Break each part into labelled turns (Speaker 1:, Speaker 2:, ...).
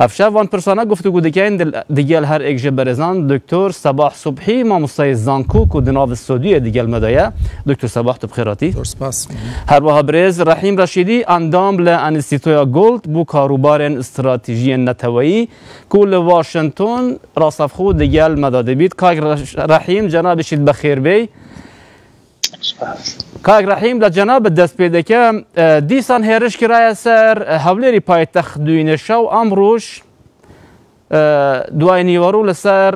Speaker 1: ئەفشا ڤان پرسانە گفتوگو دکەین دگەل هەر ئێک ژە بەرێزان دکتۆر سەباح سوبحی ماموستای زانکو کو دناڤ سۆدویە دگەل مە دایە. دکتۆر سەباح تو بخێراتی. زۆر سپاس. هەروەها برێز رەحیم رەشیدی ئەندام لە ئەنستیتۆیا گۆلد بو کاروبارێن ستراتیژییەن نەتەوەیی کو لە واشنتۆن راسەڤخو دگەل مەدا دبیت. کاک رەحیم جەنابیشیت بەخێربێی. سوپاس. کاک رحیم لە جەنابت دەست پێ دەکەم، دیسان هێرش کرایە سەر هەولێری پایتەخت دوینێ شەو، ئەمڕوش دوای نیوەڕو لەسەر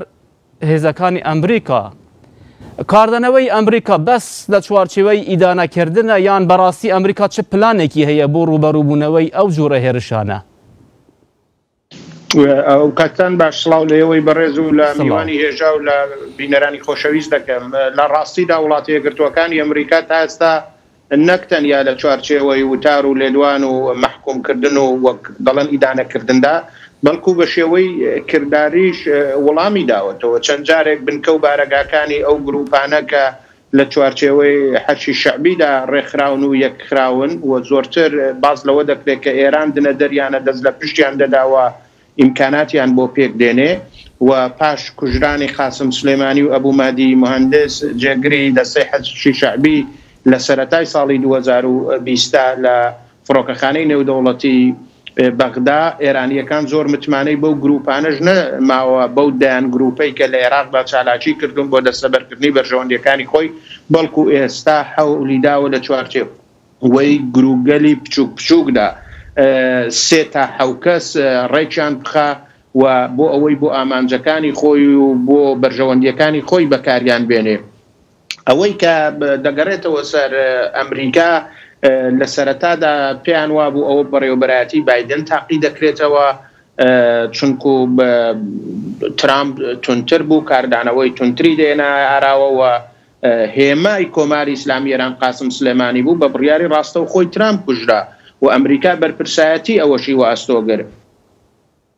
Speaker 1: هێزەکانی ئەمریکا، کاردانەوەی ئەمریکا بەس لە چوارچێوەی ئیدانە کردنە یان بەڕاستی ئەمریکا چ پلانێکی هەیە بۆ روبەروبونەوەی ئەو جۆرە هێرشانە؟ ئەوکاتتان باش سڵاو لە ئێوەی بەڕێز و لە میوانی هێژا و لە بینەرانی خۆشەویست دەکەم لە ڕاستیدا وڵاتە یەکگرتووەکانی ئەمریکا تا ئێستا نەک تەنیا لە چوارچێوەی وتار و لێدوان و مەحکومکردن و وەک دەڵێن ئیدانەکردندا بەڵکو بە شێوەی کرداریش وڵامی داوەتەوە چەند جارێک بنکە و بارەگاکانی ئەو گروپانە کە لە چوارچێوەی حەرشی شەعبیدا ڕێکخراون و یەکخراون و زۆرتر باس لەوە دەکرێت کە ئێران دنەدەریانە دەست لە پشتیان دەدا و ئیمکاناتیان بۆ پێک دێنێ و پاش کوژرانی قاسم سولەیمانی و ئەبو مەهدی موهەندس جێگری دەستەی حەرشی شەعبی لە سەرەتای ساڵی دوو هەزار و بیست لە فڕۆکەخانەی نێودەوڵەتی بەغدا، ئێرانییەکان زۆر متمانەی بەو گرووپانەش نەماوە، بەو دەیان گرووپەی کە لە ئێراقدا چالاکیی کردوون بۆ دەستەبەرکردنی بەرژەوەندییەکانی خۆی، بەڵکوو ئێستا حەولی داوە لە چوارچێوەی گرووپگەلی بچووک بچووکدا سێ تا حەو کەس ڕێکیان بخا و بۆ ئەوەی بۆ ئامانجەکانی خۆی و بۆ بەرژەوەندییەکانی خۆی بەکاریان بێنێ. ئەوەی کە دەگەڕێتەوە سەر ئەمریکا لە سەرەتادا پێیان وابوو ئەوە بەڕێوەبەرایەتی بادن تاقی دەکرێتەوە چونکو ترامپ تونتر بوو کاردانەوەی تونتری دێنا ئاراوەوە هێمای کۆماری ئیسلامی ئێران قاسم سلێمانی بوو بە بڕیاری ڕاستە و خۆی ترامپ کوژرا و ئەمریکا بەرپرسایەتی ئەوەشی وە ئەستۆگرت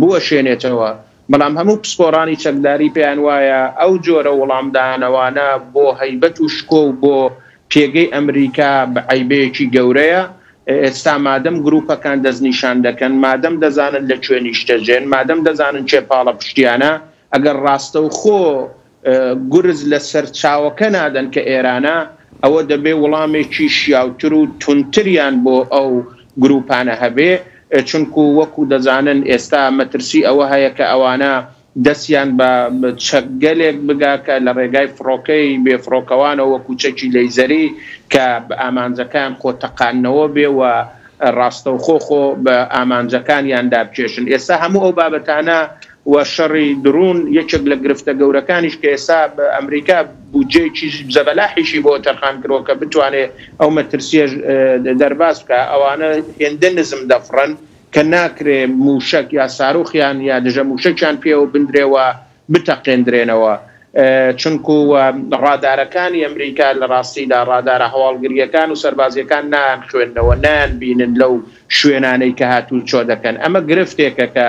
Speaker 1: بوەشێنێتەوە، بەڵام هەموو پسپۆڕانی چەکداری پێیان وایە ئەو جۆرە وڵامدانەوانە بۆ هەیبەت و شکۆ و بۆ پێگەی ئەمریکا عەیبەیەکی گەورەیە، ئێستا مادەم گروپەکان دەستنیشان دەکەن، مادەم دەزانن لە کوێ نیشتەجێن، مادەم دەزانن کێ پاڵەپشتیانە، ئەگەر ڕاستەوخۆ گورز لە سەرچاوەکە نادەن کە ئێرانە، ئەوە دەبێ وڵامێکی شیاوتر و توندتریان بۆ ئەو گرووپانە هەبێ، چونکو وەکو دەزانن ئێستا مەترسی ئەوە هەیە کە ئەوانە دەستیان بە چەکگەلێک بگا کە لە ڕێگای فڕۆکەی بێفڕۆکەوانەوە وەکو چەکی لەیزەری کە ئامانجەکەیان خۆ تەقاندنەوە بێ و ڕاستەوخۆ خۆ بە ئامانجەکانیاندا بکێشن. ئێستا هەموو ئەو بابەتانە و شەڕی دڕون، یەکێک لە گرفتە گەورەکانیش کە ئێستا ئەمریکا بودجەیەکی زەبەلاحیشی بۆ تەرخان کردوە کە بتوانێت ئەو مەترسیەش دەرباز بکا، ئەوانە هێندە نزم دەفڕن کە ناکرێت موشەک یا ساروخیان یا دژە موشەکیان پێوە بندرێ و بتەقێندرێنەوە چونکو ڕادارەکانی ئەمریکا لە ڕاستیدا ڕادارە هەواڵگریەکان و سەربازیەکان نایانخوێننەوە نایانبینن لەو شوێنانەی کە هاتوچۆ دەکەن، ئەمە گرفتێکە کە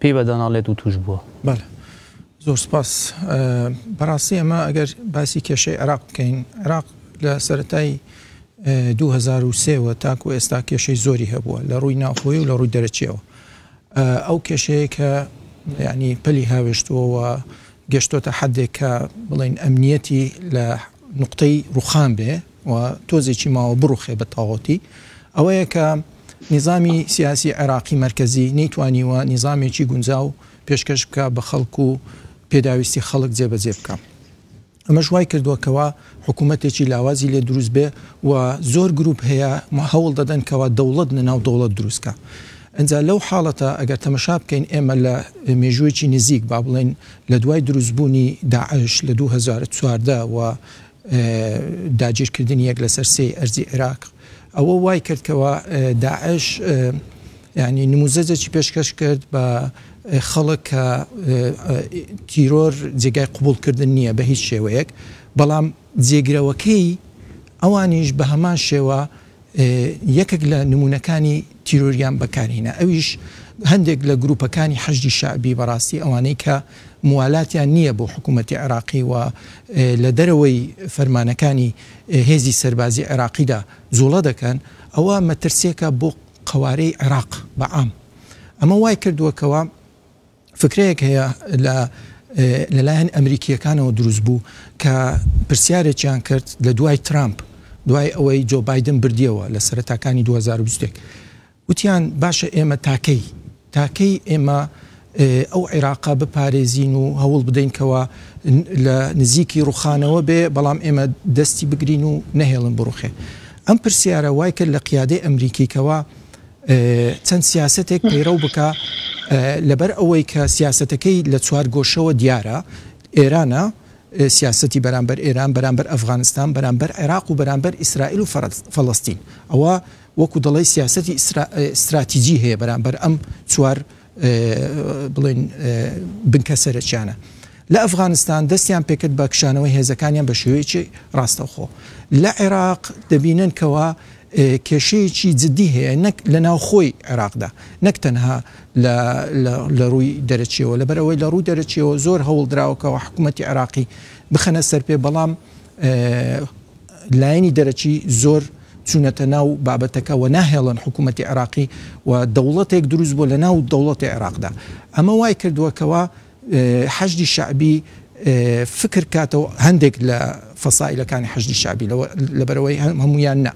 Speaker 1: پێی بە دانا ڵێت و توش بووە. بەڵێ زۆر سوپاس بەڕاستی ئەمە ئەگەر باسی کێشەی عێراق بکەین عێراق لە سەرەتای دوو هەزار و سێ وە تاکو ئێستا کێشەی زۆری هەبووە لە ڕووی ناوخۆی و لە ڕووی دەرەچیەوە ئەو کێشەیە کە ینی پەلی هاوێشتووەوە گەشتۆتە حدێک کە بڵین ئەمنیەتی لە نقطەی ڕوخان بێ و تۆزێکی ماوە بڕوخێ بە تاغۆتی، ئەوەیە کە نیزامی سیاسی عێراقی مەرکەزی نەیتوانیوە نیزامێکی گونجاو پێشکەش بکا بە خەڵک و پێداویستی خەڵک جێبەجێ بکا. ئەمەش وای کردوە کەوا حکوومەتێکی لاوازی لێ دروست بێ و زۆر گرووپ هەیە هەوڵ دەدەن کەوا دەوڵەت لە ناو دەوڵەت دروست کا. ئینجا لەو حاڵەتە ئەگەر تەمەشا بکەین ئێمە لە مێژووێکی نزیک با بڵێین لە دوای دروست بوونی داعش لە دوو هەزار و چواردە و داگیرکردنی یەک لەسەر سێی ئەرزی عیراق ئەوە وای کرد کەوا داعش یعنی نموزەجێکی پێشکەش کرد بە خەڵک کە تیرۆر جێگای قوبولکردن نییە بە هیچ شێوەیەک بەڵام جێگرەوەکەی ئەوانیش بە هەمان شێوە یەکێک لە نموونەکانی تیرۆریان بەکارهینا ئەویش هەندێک لە گرووپەکانی حەشدی شەعبی بەڕاستی ئەوانەی کە موالاتیان نییە بۆ حکوومەتی عێراقی و لە دەرەوەی فەرمانەکانی هێزی سەربازی عێراقیدا جووڵە دەکەن ئەوە مەترسیێکە بۆ قەوارەی عێراق بە عام ئەمە وای کردووە کەوا فکرەیەک هەیە لە لەلایەن ئەمریکییەکانەوە دروست بوو کە پرسیارێکیان کرد لە دوای ترامپ دوای ئەوەی جۆ بادن بردیەوە لە سەرتاکانی 2020 وتیان باشە ئێمە تاکەی تاکەی ئێمە ئەو عێراقا بپارێزین و هەوڵ بدەین کەەوە لە نزیکی ڕوخانەوە بێ بەڵام ئێمە دەستی بگرین و نەهێڵن بڕوخێ ئەم پرسیارە وای کرد لە قیادەی ئەمریکیکەوە چەند سیاسەتێک پەیڕەو بکا لەبەر ئەوەی کە سیاسەتەکەی لە چوار گۆشەوە دیارە ئێرانە سیاستی بەرامبەر ئێران بەرامبەر ئەفغانستان بەرامبەر عێراق و بەرامبەر ئیسرائیل و فەڵستین ئەوە وەکو دەڵی سیاستی استراتیجی هەیە بەرامبەر ئەم چوار بڵێن بنکە سەرچیانە لە ئەفغانستان دەستیان پێکرد بە کشانەوەی هێزەکانیان بە شێوەیەکی ڕاستەخۆ لە عێراق دەبینن کەەوە لە کێشەیەکی جدی هەیە نەک لە ناوخۆی عێراقدا نەک تەنها لە رووی دەرەکیەوە لەبەر ئەوەی لە رووی دەرەکیەوە زۆر هەوڵ دراوە کە حکوومەتی عێراقی بخەنە سەر پێ بەڵام لایەنی دەرەکی زۆر چونەتە ناو بابەتەکە و ناهێڵن حکوومەتی عێراقی و دەوڵەتێک دروست بۆ لە ناو دەوڵەتی عێراقدا ئەمە وای کردووە کەوا حەشدی شەعبی فکر کاتەوە هەندێک لە فەسائیلەکانی حەشدی شەعبی لەوە لەبەرئەوەی هەموویان نا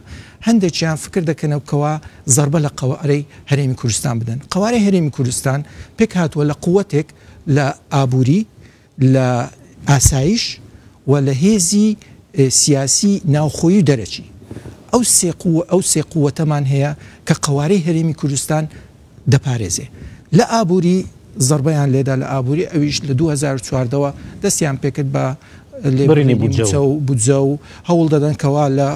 Speaker 1: هەندێکیان فکر دەکەنەوە کەوا زەربە لە قەوارەی هەرێمی کوردستان بدەن قەوارەی هەرێمی کوردستان پێک هاتووە لە قوتێک لە ئابووری لە ئاسایش و لە هێزی سیاسی ناوخۆیی و دەرەکی ئەو سێ قووە ئەو سێ قوتەمان هەیە کە قەوارەی هەرێمی کوردستان دەپارێزێ لە ئابووری زەڕبەیان لێدا لە ئابووری ئەویش لە دوو هەزار و چواردە وە دەستیان پێکرد بە لێبڕینی مووچە و بودجە و هەوڵ دەدەن کەوا لە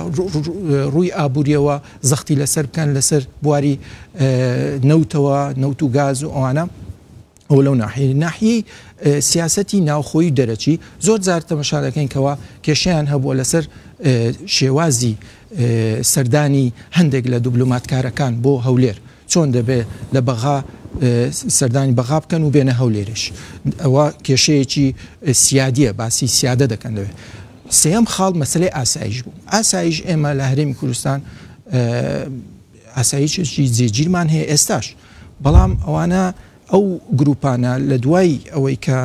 Speaker 1: ڕووی ئابووریەوە زەختی لەسەر بکەن لەسەر بواری نەوتەوە نەوت و گاز و ئەوانە ئەوە لەو ناحیەی ناحیەی سیاسەتی ناوخۆی دەرەچی زۆر جار تەمەشا دەکەین کەەوە کێشیان هەبووە لەسەر شێوازی سەردانی هەندێک لە دوبلوماتکارەکان بۆ هەولێر چۆن دەبێت لە بەغا سەردانی بەغا بکەن و بێنە هەولێرش ئەوە کێشەیەکی سیادیە باسی سیادە دەکەن دەوێت سێم خاڵ مەسلەی ئاسایش بوو ئاسایش ئێمە لە هەرێمی کوردستان ئاسایشێکی جێگیرمان هەیە ئێستاش، بەڵام ئەوانە ئەو گروپانە لە دوای ئەوەی کە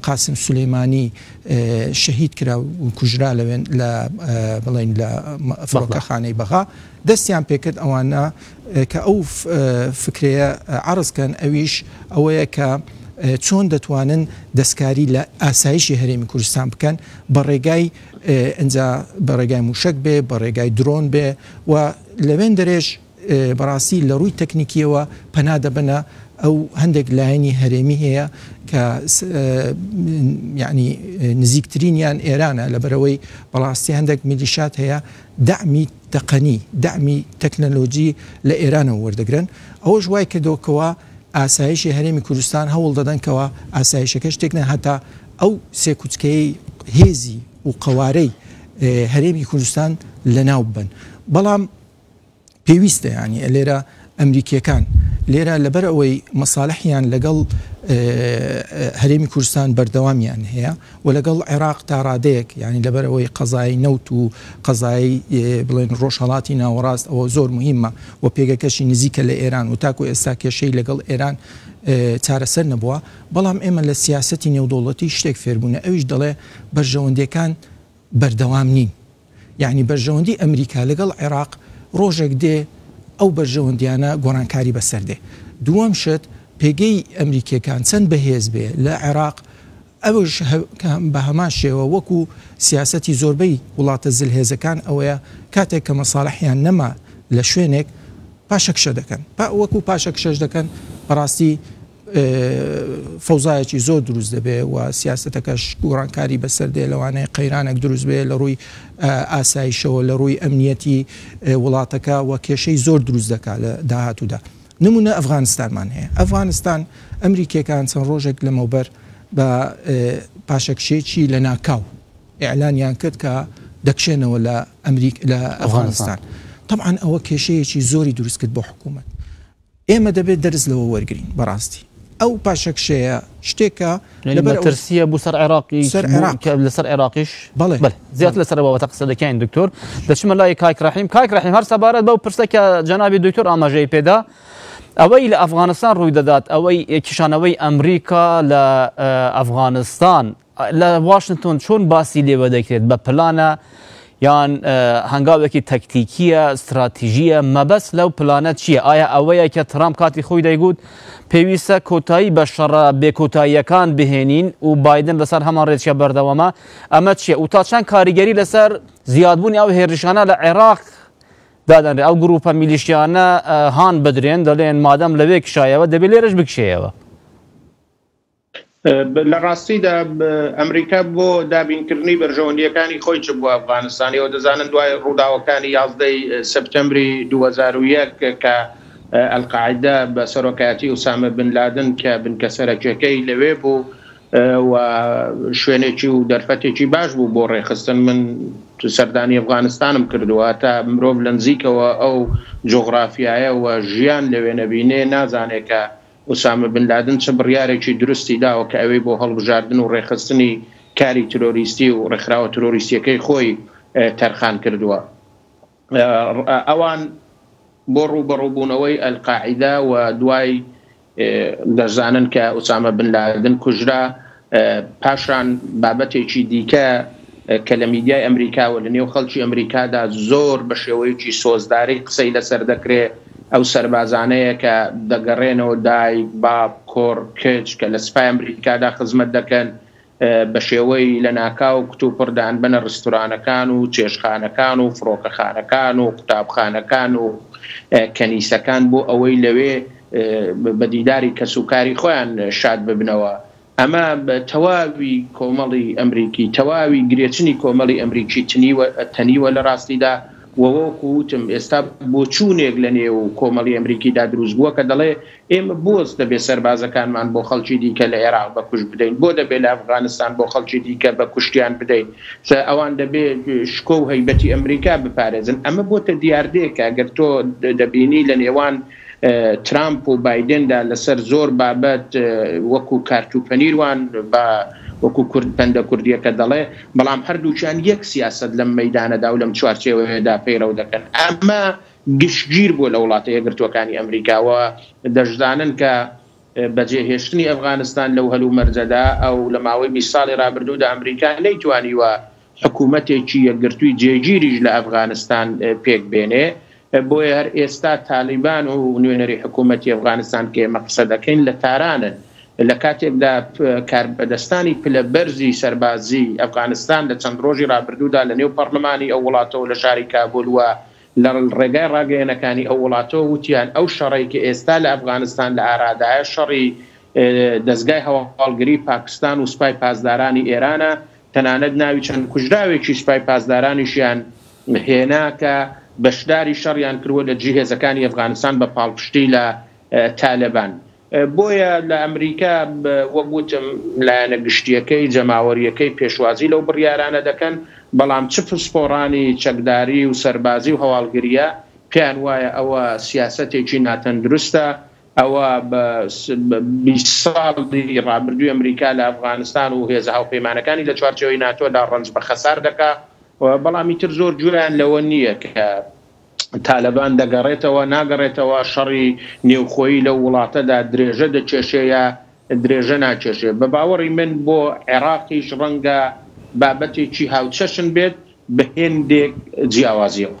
Speaker 1: قاسم سولەیمانی شەهید کرا و کوژرا لەوێن لە بڵین لە فڕۆکەخانەی بەغا دەستیان پێکرد ئەوانە کە ئەو فکرەیە عرضکەن ئەویش ئەوەیە کە چۆن دەتوانن دەستکاری لە ئاسایشی هەرێمی کوردستان بکەن بە ڕێگای ئەجا بە ڕێگای موشک بێ بە ڕێگای درۆن بێ و لەوێندەرێش بەڕاستی لە ڕووی تەکنیکییەوە پەنا دەبەنە ئەو هەندێک لایەنی هەرێمی هەیە کە یعنی نزیکترینیان ئێرانە لەبەرەوەی بەڕاستی هەندێک میلیشات هەیە دەعمی تەقەنی دەعمی تەکنەلۆجی لە ئێرانەوە وەردەگرن ئەوەش وای کردەوەکەوە ئاسایشی هەرێمی کوردستان هەوڵ دەدەنکەوە ئاسایشەکەش تێکنە هەتا ئەو سێکوچکەی هێزی و قەوارەی هەرێمی کوردستان لەناو ببەن بەڵام پێویستە یانی لێرە ئەمریکیەکان لێرە لەبەر ئەوەی مەساالحیان لەگەڵ هەرێمی کوردستان بەردەوامیان هەیە و لەگەڵ عێراق تا ڕادەیەک ینی لەبەر ئەوەی قەزایی نەوت و قەزایی بڵێن ڕۆژهڵاتی ناوەڕاست ئەوە زۆر مهمە و پێگەکەشی نزیکە لە ئێران و تاکو ئێستا کێشەی لەگەڵ ئێران چارەسەر نەبووە بەڵام ئێمە لە سیاستی نێودوڵەتی شتێک فێربوونە ئەویش دەڵێ بەرژەوەندیەکان بەردەوام نین یانی بەرژەوەندی ئەمریکا لەگەڵ عێراق ڕۆژێک دێ ئەو بەرژەوەندیانە گۆڕانکاری بەسەر دێ دووەم شت پێگەی ئەمریکیەکان چەند بەهێز بێ لە عێراق ئەوش بە هەمان شێوە وەکو سیاستی زۆربەی وڵاتە زل هێزەکان ئەوەیە کاتێک کە مەساالحیان نەما لە شوێنێک پاشەکشە دەکەن وەکو پاشەکشەش دەکەن بەڕاستی فەوزایەکی زۆر دروست دەبێ و سیاستەکەش گۆڕانکاری بەسەر دێ لەوانەیە قەیرانێک دروست بێ لە ڕووی ئاسایشەوە لە ڕووی ئەمنیەتی وڵاتەکە و کێشەی زۆر دروست دەکات لە داهاتوودا نمونە ئەفغانستانمان هەیە ئەفغانستان ئەمریکیەکان چەند ڕۆژێک لەمەوبەر بە پاشەکشێکی لە ناکاو ئەلانیان کرد کە دەکشێنەوە لە ئەمریک لە ئەفغانستان طبعاان ئەوە کێشەیەکی زۆری دروست کرد بۆ حکوومەت ئێمە دەبێت دەرس لەوە وەرگرین بەڕاستی ئەو پاشەکشەیە شتێکە یعنی لەبەر ئەو مەترسیە بو سەر عێراقیش سەر بو عێراق. کە لەسەر عێراقیش بەڵێ. بەل زیاتر بەڵێ. لەسەر بابەتە قسە دەکەین دکتۆر دەچمە لای کاک رحیم کاک رحیم هەر سەبارەت بەو پرسە کە جەنابی دکتۆر ئاماژەی پێدا ئەوەی لە ئەفغانستان روی دەدات ئەوەی کشانەوەی ئەمریکا لە ئەفغانستان لە واشنتۆن چۆن باسی لێوە دەکرێت؟ بە پلانە یان هەنگاوێکی تەکتیکیە، ستراتیژیە؟ مەبەست لەو پلانە چیە؟ ئایا ئەوەیە کە ترامپ کاتی خۆی دەیگوت پێویستە کۆتایی بە شەڕە بێ کۆتاییەکان بهێنین و بایدن لەسەر هەمان رێچکە بەردەوامە؟ ئەمە چیە و تا چەند کاریگەری لەسەر زیادبوونی ئەو هێرشانە لە عێراق دادەنرێت؟ ئەو گروپە میلیشیانە هان بدرێن دەلێن مادەم لەوێ کشایەوە دەبێت لێرەش بکشێیەوە. لە ڕاستیدا ئەمریکا بۆ دابینکردنی بەرژەوەندییەکانی خۆی چ بووە ئەفغانستان ئێوە دەزانن دوای ڕووداوەکانی یازدەی سپتەمبری دوو هەزار و یەک کە ئەلقاعیدە بە سەرۆکایەتی ئوسامە بن لادن کە بنکە سەرەکیەکەی لەوێ بوو و شوێنێکی و دەرفەتێکی باش بوو بۆ ڕێخستن من سەردانی ئەفغانستانم کردووە تا مرۆڤ لە نزیکەوە ئەو جۆغرافیایە و ژیان لەوێ نەبینێ نازانێکە ئوسامە بن لادن چ بڕیارێکی دروستی داوە کە ئەوێی بۆ هەڵبژاردن و ڕێکخستنی کاری ترۆریستی و ڕێکخراوە ترۆریستیەکەی خۆی تەرخان کردووە ئەوان بۆ ڕووبەڕووبوونەوەی ئەلقاعیدە و دوای دەزانن کە ئوسامە بن لادن کوژرا، پاشان بابەتێکی دیکە کە لە میدیای ئەمریکا و لە نێو خەڵکی ئەمریکادا زۆر بە شێوەیەکی سۆزداری قسەی لەسەر دەکرێ، ئەو سەربازانەیە کە دەگەڕێنەوە، دایک، باب، کوڕ، کچ، کە لە سپای ئەمریکادا خزمەت دەکەن، بە شێوەی لەناکاو کتوپڕ دەانبەنە ڕستورانەکان و چێشتخانەکان و فڕۆکەخانەکان و قوتابخانەکان و کەنیسەکان بۆ ئەوەی لەوێ بە دیداری کەس و کاری خۆیان شاد ببنەوە، ئەمە تەواوی کۆمەڵی ئەمریکی، تەواوی گرێچنی کۆمەڵی ئەمریکی تەنیوە لە ڕاستیدا و وەکو وتم ئێستا بۆچوونێک لە نێو کۆمەڵی ئەمریکیدا دروست بووە کە دەڵێ ئێمە بۆچ دەبێ سەربازەکانمان بۆ خەڵکی دیکە لە ئێراق بە کوشت بدەین، بۆ دەبێ لە ئەفغانستان بۆ خەڵکی دیکە بە کوشتیان بدەین، ئەوان دەبێ شکۆ و هەیبەتی ئەمریکا بپارێزن، ئەمە بۆتە دیاردەیەک کە ئەگەر تۆ دەبینی لە نێوان. ترامپ و بایدندا لەسەر زۆر بابەت وەکو کارت و پەنیر وان بە وەکو کورد پەندە کوردیەکە دەڵێ بەڵام هەردووکیان یەک سیاسەت لەم مەیدانەدا و لەم چوارچێوەیەدا پەیڕەو دەکەن ئەمە گشتگیر بووە لە وڵاتە یەکگرتووەکانی ئەمریکاوە دەشزانن کە بەجێ هێشتنی ئەفغانستان لەو هەل و مەرجەدا ئەو لە ماوەی بیست ساڵی ڕابردوودا ئەمریکا نەیتوانیوە حکوومەتێکی یەکگرتووی جێگیریش لە ئەفغانستان پێک بێنێ بۆیە هەر ئێستا تالیبان و نوێنەری حکوومەتی ئەفغانستان کە ئێمە قسە دەکەین لە تارانن، لە کاتێکدا کاربەدەستانی پلە بەرزی سەربازیی ئەفغانستان لە چەند ڕۆژی ڕابردوودا لە نێو پەڕڵمانی ئەو وڵاتەوە لە شاری کابول و لە ڕێگای ڕاگەیەنەکانی ئەو وڵاتەوە وتیان ئەو شەڕەی کە ئێستا لە ئەفغانستان لە ئارادایە شەڕی دەزگای هەواڵگری پاکستان و سپای پاسدارانی ئێرانە، تەنانەت ناوی چەند کوژراوێکی سپای پاسدارانیشیان هێنا کە بەشداری شەڕیان کردوە لە دژی هێزەکانی ئەفغانستان بە پاڵپشتی لە تالەبان بۆیە لە ئەمریکا وەک وتم لایەنە گشتیەکەی جەماوەریەکەی پێشوازی لەو بڕیارانە دەکەن بەڵام چ پسپۆڕانی چەکداری و سەربازی و هەواڵگریە پێیان وایە ئەوە سیاسەتێکی ناتەندروستە ئەوا بە بیست ساڵی ڕابردووی ئەمریکا لە ئەفغانستان و هێزە هاوپەیمانەکانی لە چوارچێوەی ناتۆدا ڕەنج بە خەسار دەکا و بەڵام ئیتر زۆر گوێیان لەوە نییە کە تالەبان دەگەڕێتەوە ناگەڕێتەوە، شەڕی نێوخۆیی لەو وڵاتەدا درێژە دەکێشێ یا درێژە ناکێشێ. بە باوەڕی من بۆ عێراقیش ڕەنگە بابەتێکی هاوچەشن بێت بە هێندێک جیاوازییەوە.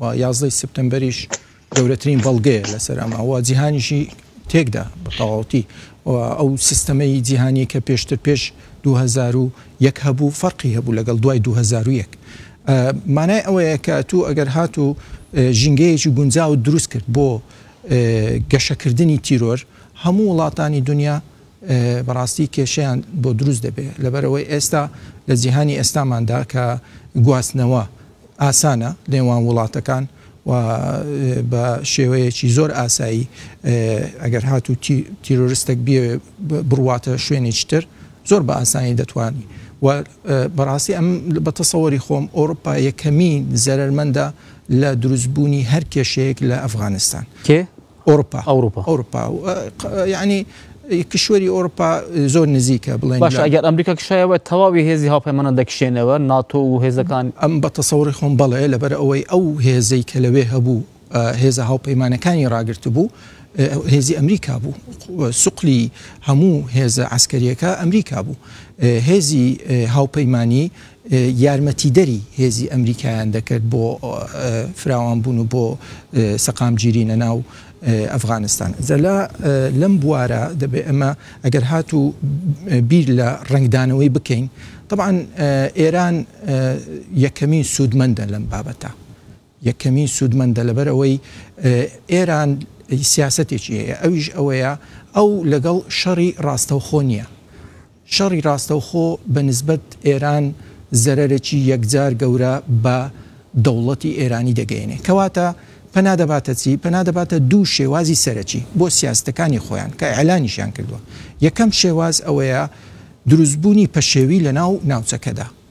Speaker 1: و یازدەی سپتەمبەریش گەورەترین بەڵگەیە لەسەر ئەمە و جیهانیشی تێکدا بە تەواوەتی و ئەو سیستەمەی جیهانی کە پێشتر پێش 2001 هەبوو فەرقی هەبوو لەگەڵ دوای 2001 مانای ئەوەیە کە تو ئەگەر هات و ژینگەیەکی گونجاو و دروست کرد بۆ گەشەکردنی تیرۆر هەموو وڵاتانی دنیا بەڕاستی کێشیان بۆ دروست دەبێت لەبەرەوەی ئێستا لە جیهانی ئێستاماندا کە گواستنەوە ئاسانە نێوان وڵاتەکان و بە شێوەیەکی زۆر ئاسایی ئەگەر هاتوو تیرۆرستەک بیەوێ بڕواتە شوێنێکی تر زۆر بە ئاسانی دەتوانی و بەڕاستی ئەم بە تەسەوەری خۆم ئەوروپا یەکەمین زەرەرمەندە لە دروستبوونی هەر کێشەیەک لە ئەفغانستان. کێ ئۆروپا ئەوروپا ئەوروپا یعنی کشوەری ئۆروپا زۆر نزیکە بڵێن باش ئەگەر ئەمریکا کشایەوە تەواوی هێزی هاوپەیمانە دەکشێنەوە ناتۆ و هێزەکان ئەم بە تەسەوری خۆم بەڵێ لەبەر ئەوەی ئەو هێزەی کە لەوێ هەبوو هێزە هاوپەیمانەکانی ڕاگررت بوو هێزی ئەمریکا بوو سوقلی هەموو هێزە ئاسکەریەکە ئەمریکا بوو هێزی هاوپەیمانی یارمەتیدەری هێزی ئەمریکایان دەکرد بۆ فراوان بوون و بۆ سەقامگیری لە ناو ئەفغانستان جەلا لەم بوارە دەبێ ئەمە ئەگەر هات و بیر لە ڕنگدانەوەی بکەین طبعاً ئێران یەکەمین سوودمەندە لەم بابەتە یەکەمین سوودمەندە لەبەر ئەوەی ئێران سیاسەتێکی هەیە ئەویش ئەوەیە ئەو لەگەڵ شەڕی ڕاستەوخۆ نییە شەڕی ڕاستەوخۆ بە نسبەت ئێران زەرەرێکی یەکجار گەورە بە دەوڵەتی ئێرانی دەگەیەنێ. کەواتە پەنا دەباتە چی؟ پەنا دەباتە دوو شێوازی سەرەکی بۆ سیاستەکانی خۆیان کە ئیعلانیشیان کردووە. یەکەم شێواز ئەوەیە دروستبوونی پەشێوی لەناو ناوچەکەدا.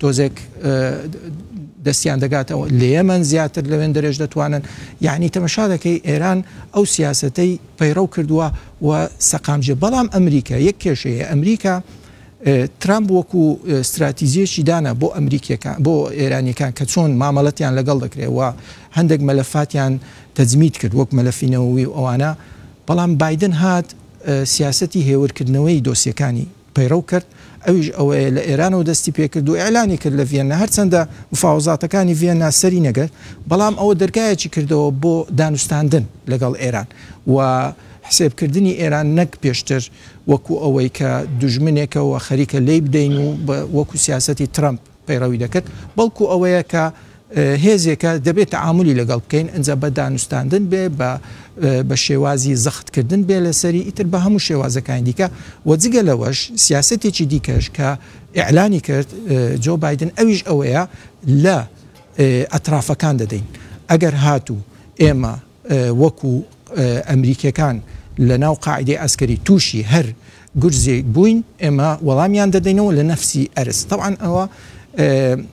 Speaker 1: تۆزێک دەستیان دەگاتەوە لەیەمەن زیاتر لەوێن دەرێژ دەتوانن یعنی تەمەشا دەکەی ئێران ئەو سیاستەی پەیڕەو کردووە و سەقامجێ بەڵام ئەمریکا یەک کێشەیە ئەمریکا ترامپ وەکو استراتیزیەکی دانا بۆ ئەمریکیەکان بۆ ئێرانیەکان کە چۆن مامەڵەتیان لەگەڵ دەکرێەوە هەندێک مەلەفاتیان تەزمیت کرد وەک مەلەفینەوەی و ئەوانە بەڵام بادن هات سیاستی هێورکردنەوەی دۆسیەکانی پەیڕەو کرد، ئەویش ئەوەیە لە ئێرانەوە دەستی پێ کرد و ئیعلانی کرد لە ڤیەننا، هەرچەندە مفاوەزاتەکانی ڤیەننا سەری نەگرت، بەڵام ئەوە دەرگایەکی کردەوە بۆ دانوستاندن لەگەڵ ئێران و حسێبکردنی ئێران نەک پێشتر وەکو ئەوەی کە دوژمنێکە و خەریکە لێی بدەین و وەکو سیاسەتی ترەمپ پەیڕەوی دەکرد، بەڵکو ئەوەیە کە هێزێکە دەبێ تەعامولی لەگەڵ بکەین، ئنجا بە دانوستاندن بێ، بە بە شێوازی زەخت کردن بێ لەسەری، ئیتر بە هەموو شێوازەکانی دیکە و جگە لەوەش سیاسەتێکی دیکەش کە ئیعلانی کرد جۆ بایدن ئەویش ئەوەیە لە ئەترافەکان دەدەین ئەگەر هاتوو ئێمە وەکو ئەمریکیەکان لەناو قاعیدەی عەسکەری تووشی هەر گورزێک بووین ئێمە وەڵامیان دەدەینەوە لە نەفسی ئەرز تەبعەن ئەوە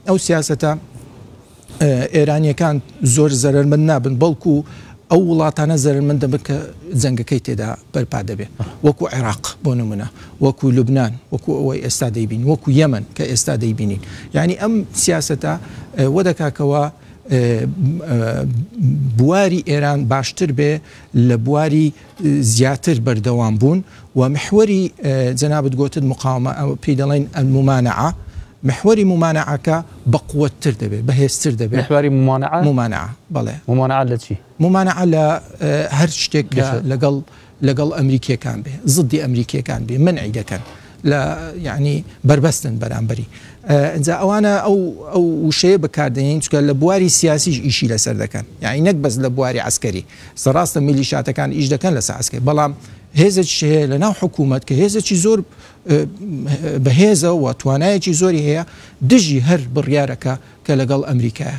Speaker 1: ئەو سیاسەتە ئێرانیەکان زۆر زەرمەند نابن بەڵکو ئەو وڵاتانە زەرمەند دەبن کە جەنگەکەی تێدا بەرپا دەبێ وەکو عێراق بۆ نمونە وەکو لوبناان وەکو ئەوەی ئێستا دەیبین وەکو یەمن کە ئێستا دەیبینین یعنی ئەم سیاسەتە وە دەکاکەوە بواری ئێران باشتر بێ لە بواری زیاتر بەردەوام بوون و محوەری جەنابت گۆتت مقاومە ئەو پێی دەڵێن الممانعە محوەری ممانعەکە بە قوتتر دەبێت بەهێزتر دەبێت محوەری ممانعە ممانعە بەڵێ ممانعە لە چی ممانعە لە هەر شتێک لەگەڵ لەگەڵ ئەمریکیەکان بێ زدی ئەمریکیەکان بێ مەنعی دەکەن لە یەعنی بەربەستن بەرامبەری ئینجا ئەوانە ئەو ئەو وشەیە بەکاردێنین چکە لە بواری سیاسیش ئیشی لەسەر دەکەن یعنی نەک بەس لە بواری عسکەری سەڕاستە میلی شاتەکان ئیش دەکەن لە ساسکە بەڵام هێزێک شەیە لە ناو حکوومەت کە هێزێکی زۆر بەهێزەوە توانایەکی زۆری هەیە دژی هەر بڕیارەکە کە لەگەڵ ئەمریکایە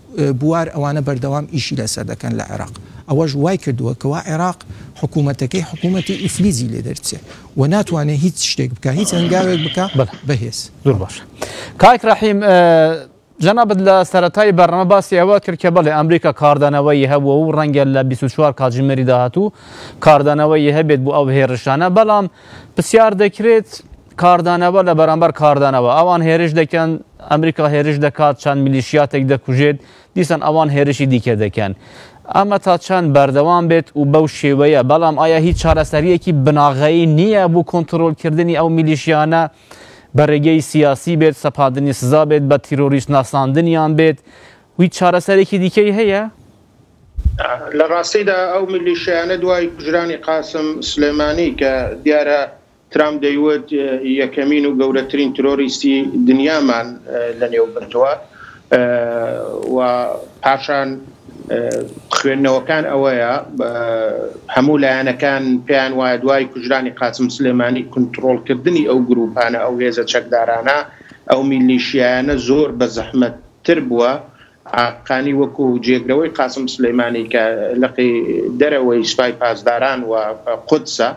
Speaker 1: بوار ئەوانە بەردەوام ئیشی لەسەر دەکەن لە عێراق، ئەوەش وای کردووە کەوا عێراق حکوومەتەکەی حکوومەتی ئیفلیجی لێ دەرچێ و ناتوانێ هیچ شتێک بکا هیچ هەنگاوێک بکا بەهێز. زۆر باشە کاک ڕەحیم جەنابەت لە سەتای بەرنامە باسی ئەوە کرد کە بەڵێ ئەمریکا کاردانەوەی هەبووە و ڕەنگە لە 24 کاتژمێری داهاتوو کاردانەوەی هەبێت بۆ ئەو هێرشانە بەڵام پرسیار دەکرێت کاردانەوە لە بەرامبەر کاردانەوە ئەوان هێرش دەکەن، ئەمریکا هێرش دەکات، چەند میلیشیاتێک دەکوژێت، دیسان ئەوان هێرشی دیکە دەکەن. ئەمە تا چەند بەردەوام بێت و بەو شێوەیە، بەڵام ئایا هیچ چارەسەرییەکی بناغەیی نییە بۆ کۆنترۆڵکردنی ئەو میلیشیانە، بە رێگەی سیاسی بێت، سەپاندنی سزا بێت، بە تیرۆریست ناساندنیان بێت، هیچ چارەسەرێکی دیکەی هەیە؟ لە راستیدا ئەو میلیشیانە دوای کوژرانی قاسم سلێمانی کە دیارە ترامپ دەیوت یەکەمین و گەورەترین ترۆریستی دنیامان لەنێو بردووە و پاشان خوێندنەوەکان ئەوەیە هەموو لایەنەکان پێیان وایە دوای کوژرانی قاسم سلێمانی کنترۆڵکردنی ئەو گروپانە ئەو هێزە چەکدارانە ئەو میلیشیایانە زۆر بە زەحمەت تر بووە ئاقانی وەکو جێگرەوەی قاسم سولەیمانی کە لقی دەرەوەی سپای پاسداران و قودسە،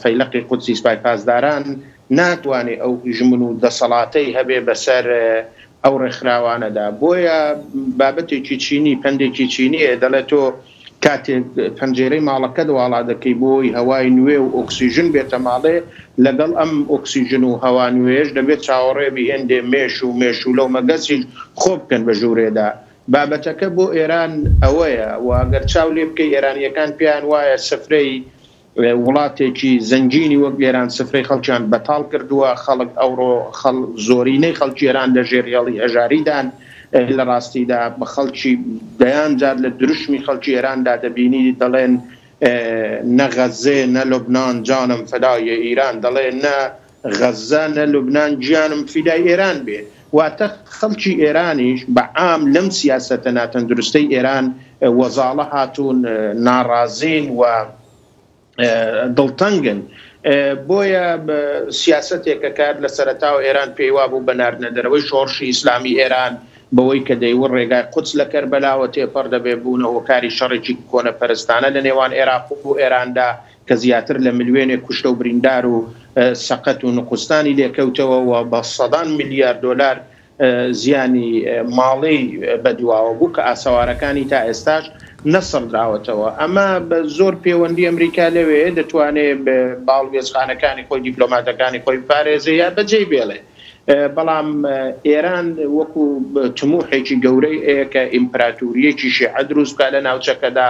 Speaker 1: فەیلەقی قودسی سپای پاسداران، ناتوانێ ئەو هژمون و دەسەڵاتەی هەبێ بەسەر ئەو ڕێکخراوانەدا. بۆیە بابەتێکی چینی، پەندێکی چینییە، دەڵێ تۆ کاتێک پەنجێرەی ماڵەکەت واڵا دەکەی بۆی هەوای نوێ و ئۆکسیژن بێتە ماڵێ، لەگەڵ ئەم ئۆکسیژن و هەوا نوێیەش دەبێت چاوەڕێ بی هێندێ مێش و مێشوولە و مەگەسیش خۆ بکەن بە ژوورێدا. بابەتەکە بۆ ئێران ئەوەیە و گەر چاو لێ بکەی ئێرانییەکان پێیان وایە سفرەی وڵاتێکی زەنگینی وەک ئێران سفرەی خەڵکیان بەتاڵ کردووە، خەڵک ئەوڕۆ زۆرینەی خەڵکی ئێران لە ژێر هێڵی هەژاریدان، لە ڕاستیدا خەڵکی دەیان جار لە دروشمی خەڵکی ئێراندا دەبینی دەڵێن نە غەززێ نە لوبنان جانم فدای ئیران دەڵێ نە غەزە نە لوبنان گیانم فیدای ئێران بێ واتە خەڵکی ئێرانیش بە عام لەم سیاسەتە ناتەندروستەی ئێران وەزاڵە هاتوون ناڕازین و دڵتەنگن بۆیە سیاسەتێکە کار لە سەرەتاوە ئێران پێیوا بوو بە ناردنە دەرەوەی شۆڕشی ئیسلامی ئێران بەوەی کە دەیوە ڕێگای قوچ لە کەربەلاوە تێپەڕ دەبێ بوونە هۆکاری شەڕێکی کۆنەپەرستانە لە نێوان ئێراق و ئێراندا کە زیاتر لە ملوێنێک کوشتە و بریندار و سەقەت و نوقوستانی لێکەوتەوە و بە سەدان ملیار دۆلار زیانی ماڵی بەدواوە بوو کە ئاسەوارەکانی تا ئێستاش نەسڕدراوەتەوە ئەمە بە زۆر پێوەندی ئەمریکا لەوێ دەتوانێ باڵوێزخانەکانی خۆی دیپلۆماتەکانی خۆی بپارێزێ یا بەجێی بێڵێ بەڵام ئێران وەکو تموحێکی گەورەی ئەیە کە ئیمپراتوریەکی شیعە دروست بکا لە ناوچەکەدا،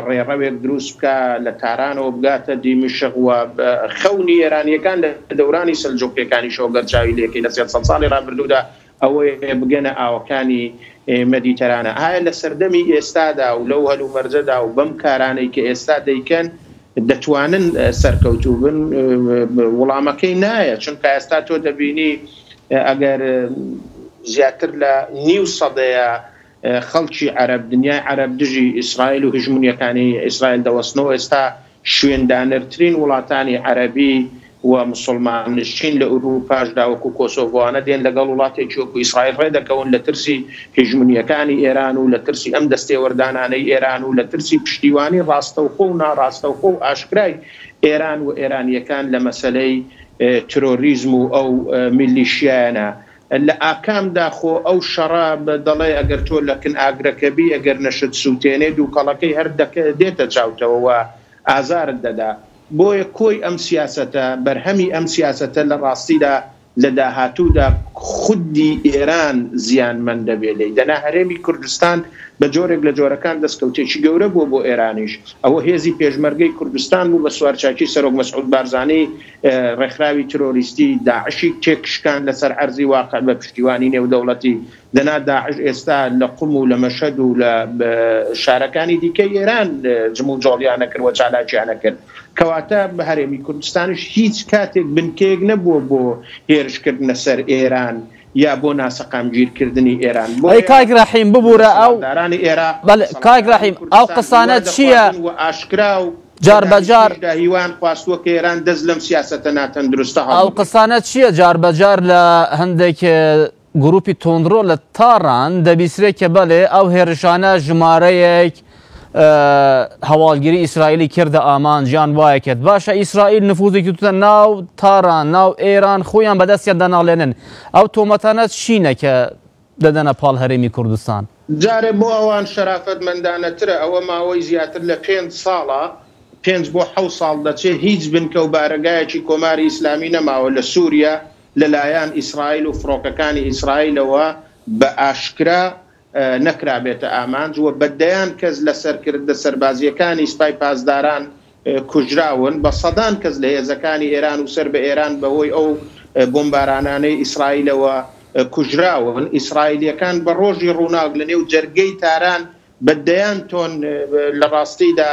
Speaker 1: ڕێڕەوێک دروست بکا لە تارانەوە بگاتە دیمشق و خەونی ئێرانیەکان لە دەورانی سەلجوقیەکانیشەوە گەر چاوی لێکەی لە سێد سەد ساڵی ڕابردوودا ئەوەیە بگەنە ئاوەکانی مەدیتەرانە. ئایا لە سەردەمی ئێستادا و لەو هەلومەرجەدا و بەم کارانەی کە ئێستا دەیکەن دەتوانن سەرکەوتوو بن؟ وڵامەکەی نایە، چونکە ئێستا تۆ دەبینی ئەگەر زیاتر لە نیو سەدەیە خەڵکی عەرەب، دنیای عەرەب دژی ئیسرائیل و هژمونیەکانی ئیسرائیل دەوەستنەوە، ئێستا شوێندانەرترین وڵاتانی عەرەبی و موسڵمان نشین لە ئورووپاشدا وەکوو کۆسۆڤۆانە دێن لەگەڵ وڵاتێکی وەکوو ئیسرائیل ڕێ دەکەون لە ترسی هیژمونییەکانی ئێران و لە ترسی ئەم دەستێوەردانانەی ئێران و لە ترسی پشتیوانی ڕاستەوخۆ و ناڕاستەوخۆ و ئاشکرای ئێران و ئێرانییەکان لە مەسەلەی ترۆریزم و ئەو میلیشیایانە لە ئاکامدا خۆ ئەو شەڕە دەڵێ ئەگەر تۆ لە کن ئاگرەکە بی ئەگەر نەشت سووتێنێ دووکەڵەکەی هەر دێتە چاوتەوە و ئازارت دەدا. بۆیە کۆی ئەم سیاسەتە، بەرهەمی ئەم سیاسەتە لە ڕاستیدا لە داهاتوودا خودی ئێران زیانمەند دەبێت لێی. دەنا هەرێمی کوردستان بە جۆرێک لە جۆرەکان دەستکەوتێکی گەورە بووە بۆ ئێرانیش. ئەوە هێزی پێشمەرگەی کوردستان بوو بە سوارچاکی سەرۆک مەسعود بارزانی ڕێکخراوی ترۆریستی داعشی تێکشکاند لەسەر عەرزی واقع بە پشتیوانی نێودەوڵەتی. دەنا داعش ئێستا لە قوم و لە مەشهەد و لە شارەکانی دیکەی ئێران جموجۆڵیانە کرد و چالاکیانە کرد. کەواتە هەرێمی کوردستانیش هیچ کاتێک بنکەیەک نەبووە بۆ هێرشکردنە سەر ئێران یا بۆ ناسەقامگیرکردنی ئێران. ئەی کاک رەحیم ببورە ئەو دەسەڵاتدارانی عێراق سەڵاحدارانی کوردستان وە دەخوازن و ئاشکرا و بە دانیشتنیشدا هیوایان خواستووە کە ئێران دەست لەم سیاسەتە ناتەندروستە هەڵبگرێت. ئەو قسانە چییە جاربەجار لە هەندێک گروپی توندڕۆ لە تاران دەبیسرێت کە بەلێ ئەو هێرشانە ژمارەیەک هەواڵگری ئیسرائیلی کردە ئامانج یان وایە کرد باشە ئیسرائیل نفوزێکی توتە ناو تاران ناو ئێران خۆیان بەدەستیان دەناڵێنن ئەو تۆمەتانە چینە کە دەدەنە پاڵ هەرێمی کوردستان جارێ بۆ ئەوان شەرافەتمەندانەترە ئەوە ماوەی زیاتر لە پێنج ساڵە پێنج بۆ حەوت ساڵ دەچێت هیچ بنکە و بارەگایەکی کۆماری ئیسلامی نەماوە لە سوریا لەلایەن ئیسرائیل و فڕۆکەکانی ئیسرائیلەوە بە ئاشکرا نەکرابێتە ئامانج و بە دەیان کەس لە سەرکردە سەربازییەکانی سپای پاسداران کوژراون، بە سەدان کەس لە هێزەکانی ئێران و سەر بە ئێران بە هۆی ئەو بۆمبارانانەی ئیسرائیلەوە کوژراون. ئیسرائیلییەکان بە ڕۆژی ڕووناک لە نێو جەرگەی تاران بە دەیان تۆن، لە ڕاستیدا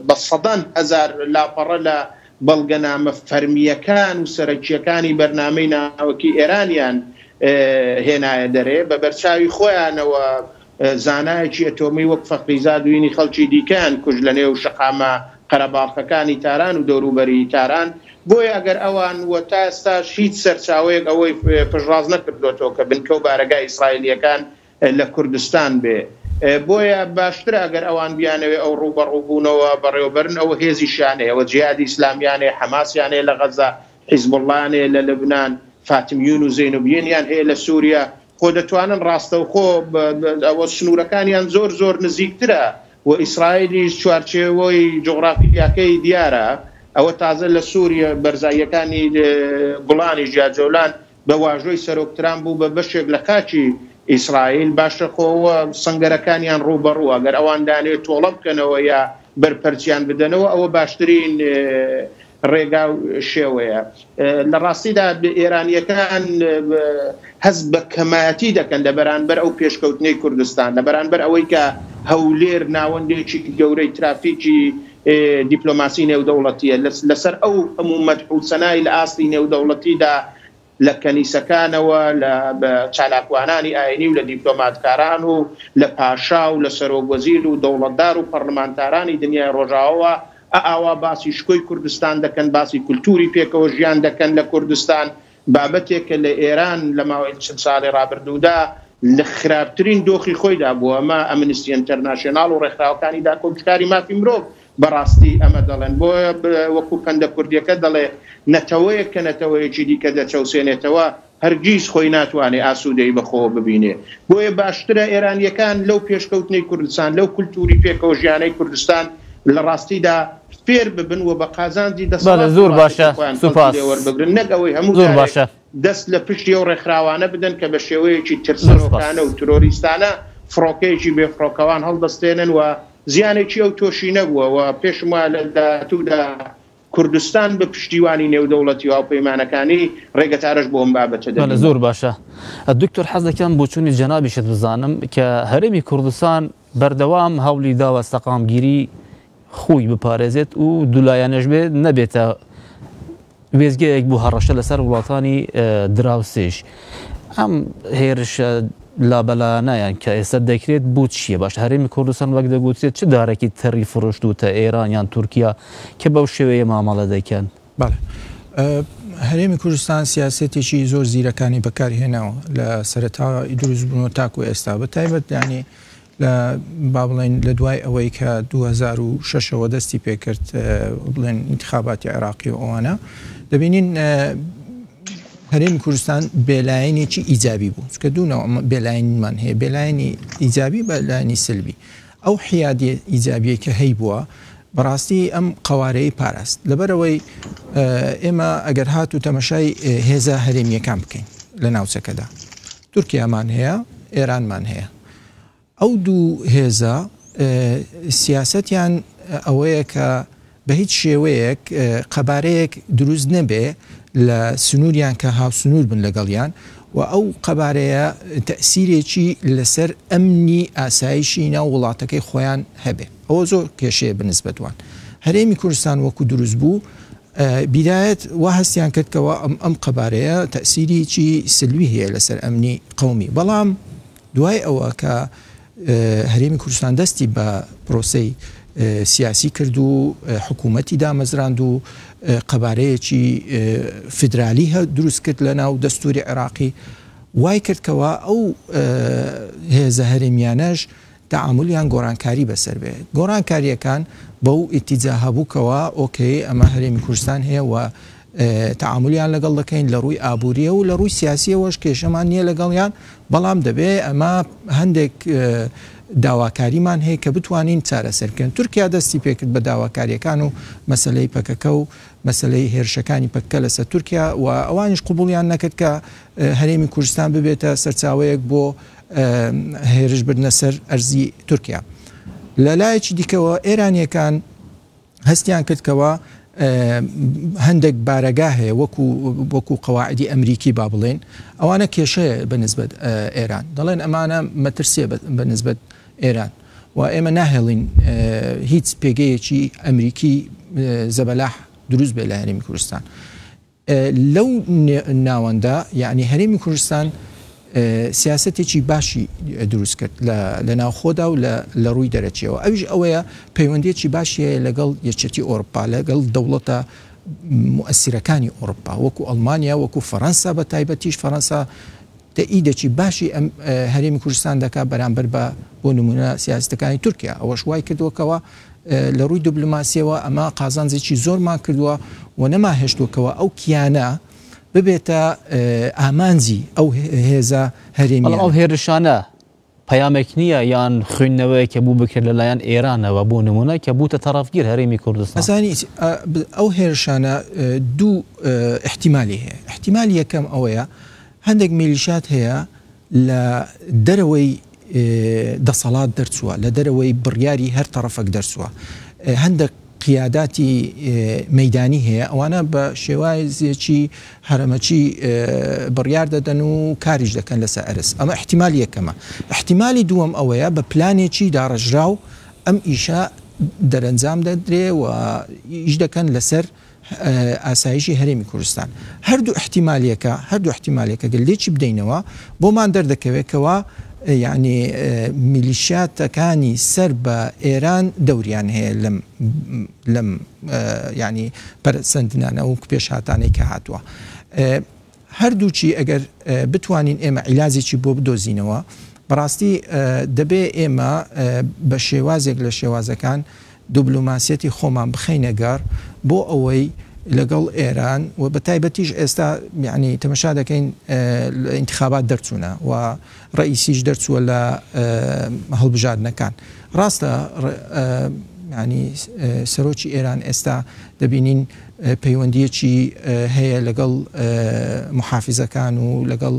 Speaker 1: بە سەدان هەزار لاپەڕە لە بەڵگەنامە فەرمییەکان و سەرەکییەکانی بەرنامەی ناوەکی ئێرانیان هێنایە دەرێ، بە بەرچاوی خۆیانەوە زانایەکی ئەتۆمی وەک فەخریزاد وینی خەڵکی دیکەیان کوشت لە نێو شەقامە قەرەباڵخەکانی تاران و دەوروبەری تاران، بۆیە ئەگەر ئەوان و تا ئێستاش هیچ سەرچاوەیەک ئەوەی پشتڕاست نەکردۆتەوە کە بنکە و بارەگای ئیسرائیلییەکان لە کوردستان بێ بۆیە باشترە ئەگەر ئەوان بیانەوێ ئەو ڕووبەڕوو بوونەوە بەڕێوەبەرن ئەوە هێزیشیان هەیە ئەوە جیهادی ئیسلامیان هەیە حەماسیان هەیە لە غەزە حیزبوڵڵایان هەیە لە لوبنان فاتمیون و زەینوبیەنیان هەیە لە سووریە خۆ دەتوانن ڕاستەوخۆ ئەوە سنوورەکانیان زۆر زۆر نزیکترە و ئیسرائیلیش چوارچێوەی جوغرافیاکەی دیارە ئەوە تازە لە سووریە بەرزاییەکانی گوڵانیش یا جۆلان بە واژۆی سەرۆک ترامپ بوو بە بەشێک لە خاکی ئیسرائیل، باشە خۆ ئەوە سەنگەرەکانیان ڕووبەڕووە، گەر ئەوان لانەیە تۆڵە بکەنەوە یا بەرپەرچیان بدەنەوە ئەوە باشترین ڕێگا و شێوەیە. لە ڕاستیدا ئێرانییەکان هەست بە کەمایەتی دەکەن لە بەرانبەر ئەو پێشکەوتنەی کوردستان، لە بەرانبەر ئەوەی کە هەولێر ناوەندێکی گەورەی ترافیکی دیپلۆماسی نێودەوڵەتییە لەسەر ئەو هەموو مەدح و سەنای لە ئاستی نێودەوڵەتیدا لە کەنیسەکانەوە لە چالاکوانانی ئاینی و لە دیپلۆماتکاران و لە پاشا و لە سەرۆک وەزیر و دەوڵەتدار و پەڕلمانتارانی دنیای ڕۆژاوەوە ئاوا باسی شکۆی کوردستان دەکەن باسی کولتووری پێکەوە ژیان دەکەن لە کوردستان بابەتێکە لە ئێران لە ماوەی چل ساڵی ڕابردوودا لە خراپترین دۆخی خۆیدا بووە، ئەمە ئەمنستی ئینتەرناشیۆناڵ و ڕێکخراوەکانی داکۆکیکاری مافی مرۆڤ بە ڕاستی ئەمە دەڵێن، بۆیە وەکوو پەندە کوردییەکە دەڵێ، نەتەوەیەک کە نەتەوەیەکی دیکە دەچەوسێنێتەوە، هەرگیز خۆی ناتوانێ ئاسوودەیی بە خۆوە ببینێ. بۆیە باشترە ئێرانییەکان لەو پێشکەوتنەی کوردستان، لەو کولتووری پێکەوەژیانەی کوردستان لە ڕاستیدا، فێر ببن و بە قازانجی دەسەڵات و پارتی خۆیان کەڵکی لێ وەربگرن، نەک ئەوەی هەموو جارێک دەست لە پشتی ئەو ڕێکخراوانە بدەن کە بە شێوەیەکی ترسنۆکانە و ترۆریستانە فڕۆکەیەکی بێفڕۆکەوان هەڵدەستێنن و زیانێکی ئەوتۆشی نەبووە و پێشم وایە لە داهاتوودا کوردستان بە پشتیوانی نێودەوڵەتی و هاوپەیمانەکانی ڕێگەچارەش بۆ ئەم بابەتە دەبینێت. زۆر باشە دکتۆر حەز دەکەم بۆچوونی جەنابیشت بزانم کە هەرێمی کوردستان بەردەوام هەوڵی داوە سەقامگیری خۆی بپارێزێت و دولایەنەش بێ نەبێتە وێستگەیەک بۆ هەڕەشە لەسەر وڵاتانی دراوسێش ئەم هێرشە لابەلایانەیان کە ئێستا دەکرێت بۆ چییە باش هەرێمی کوردستان وەک دەگوترێت چ دارێکی تەری فرۆشتوتە ئێران یان تورکیا کە بەو شێوەیە مامەڵە دەکەن هەرێمی کوردستان سیاسەتێکی زۆر زیرەکانی بەکارهێناوە لە سەرەتا دروستبوون و تاکو ئێستا بە تایبەت دانی لە با بڵێین لە دوای ئەوەی کە دوو هەزار و شەش ەوە دەستی پێکرد بڵێن ئینتخاباتی عێراقی و ئەوانە دەبینین هەرێمی کوردستان بێلایەنێکی ئیجابی بوو کە دوونەوە بێلایەنمان هەیە بێلایەنی ئیجابی بەلایانی سلبی ئەو حیادی ئیجابیە کە هەی بووە بەڕاستی ئەم قوارەی پاراست لەبەرەوەی ئێمە ئەگەر هات و تەمەشای هێزە هەرێمیەکان بکەین لە ناوچەکەدا تورکیامان هەیە ئێرانمان هەیە ئەو دوو هێزە سیاسەتیان ئەوەیە کە بە هیچ شێوەیەک قەبارەیەک دروست نەبێ لە سنووریان کە هاوسنوور بن لەگەڵیان و ئەو قەبارەیە تەسیرێکی لەسەر ئەمنی ئاسایشی ناو وڵاتەکەی خۆیان هەبێ ئەوە زۆر کێشەیە بنسبەتوان هەرێمی کوردستان وەکو دروست بوو بیدایەت وا هەستیان کرد کەوا ئەم قەبارەیە تەئسیریی سلوی هەیە لەسەر ئەمنی قەومی، بەڵام دوای ئەوە کە هەرێمی کوردستان دەستی بە پرۆسەی سیاسی کرد و حکوومەتی دامەزراند و قەبارەیەکی فیدرالی هە دروست کرد لە ناو دەستوری عێراقی وای کرد کەوا ئەو هێزە هەرێمیانەش تەعامول یان گۆڕانکاری بەسەر بێ گۆڕانکاریەکان بەو ئیتیجاهە بوو کەوا ئۆکەی ئەمە هەرێمی کوردستان هەیە و تەعامولیان لەگەڵ دەکەین لە ڕووی ئابووریە و لە ڕووی سیاسیەوەش کێشەمان نییە لەگەڵیان بەڵام دەبێ ئەمە هەندێک داواکاریمان هەیە کە بتوانین چارەسەر بکەن تورکیا دەستی پێکرد بە داواکاریەکان و مەسلەی پەکەکە و مەسلەی هێرشەکانی پەککە لەسەر تورکیا و ئەوانیش قوبولیان نەکرد کە هەرێمی کوردستان ببێتە سەرچاوەیەک بۆ هێرش بردنە سەر ئەرزی تورکیا. لە لایەکی دیکەوە ئێرانییەکان هەستیان کرد کەوا هەندێک بارەگا هەیە وەکو وەکو قەواعدی ئەمریکی با بڵێن ئەوانە کێشەیە بە نسبەت ئێران دەڵێن ئەمانە مەترسیە بە نسبەت ئێران و ئێمە ناهێڵین هیچ پێگەیەکی ئەمریکی زەبەلاح دروست بێ لە هەرمی کوردستان لەو ناوەندە یەعنی هەرێمی کوردستان سیاسەتێکی باشی دروست کرد لە ناوخۆدا و لە ڕووی دەرەکیەوە ئەویش ئەوەیە پەیوەندیەکی باشی هەیە لەگەڵ یەکێتی ئۆرپا لەگەڵ دەوڵەتە موئسیرەکانی ئۆرپا وەکو ئەڵمانیا وەکو فەرەنسا بە تایبەتیش فەرەنسا تە ی دە چی باشی ئە هەرێمی کوردستان دەکات بەرامبەر بە بۆ نموونە سیاسەتەکانی تورکیا، ئەوەش وای کردووە کەوا لە ڕووی دبلۆماسیەوە ئەمە قازانجێکی زۆرمان کردووە و نەما هێشتووە کەوا ئەو کیانە ببێتە ئامانجی ئەو هێزە هەرێمییانە. بەڵام ئەو هێرشانە پەیامێک نییە یان خویندنەوەیەک کە بوو بکرێت لەلایەن ئێرانەوە بۆ نموونە کە بووتە تەڕەفگیر هەرێمی کوردستان. ئەزانیت ئەو هێرشانە دوو ئیحتیمالی هەیە، ئیحتیمالی یەکەم ئەوەیە هەندێک میلیشات هەیە لە دەرەوەی دەسەڵات دەرچووە، لە دەرەوەی بڕیاری هەر تەڕەفەک دەرچووە هەندێک، قیاداتی مەیدانی هەیە، ئەوانە بە شێوازێکی هەرەمەکی بڕیار دەدەن و کاریش دەکەن لەسەر ئەرز، ئەمە ئیحتیمالی یەکەمە. ئیحتیمالی دووەم ئەوەیە بە پلانێکی داڕێژراو ئەم ئیشە دەرەنجام دەدرێ و ئیش دەکەن لەسەر ئاسایشی هەرێمی کوردستان. هەردوو ئیحتیمالیەکە، هەردوو ئیحتیمالیەکە گەر لێکی بدەینەوە بۆمان دەردەکەوێت کەوا یەعنی میلیشیاتەکانی سەر بە ئێران دەوریان هەیە لەم لەم یەعنی پەرەسەندنانە وەکو پێشهاتانەی کە هاتووە. هەردووکی ئەگەر بتوانین ئێمە عیلاجێکی بۆ بدۆزینەوە بەڕاستی دەبێ ئێمە بە شێوازێک لە شێوازەکان دوبلوماسیەتی خۆمان بخەینە گەڕ بۆ ئەوەی لەگەڵ ئێران و بە تایبەتیش ئێستا میعنی تەمەشا دەکەین انتخابات دەرچوونە و ڕەئیسیش دەرچووە لە هەڵبژاردنەکان. ڕاستە یانی سەرۆکی ئێران ئێستا دەبینین پەیوەندییەکی هەیە لەگەڵ موحافیزەکان و لەگەڵ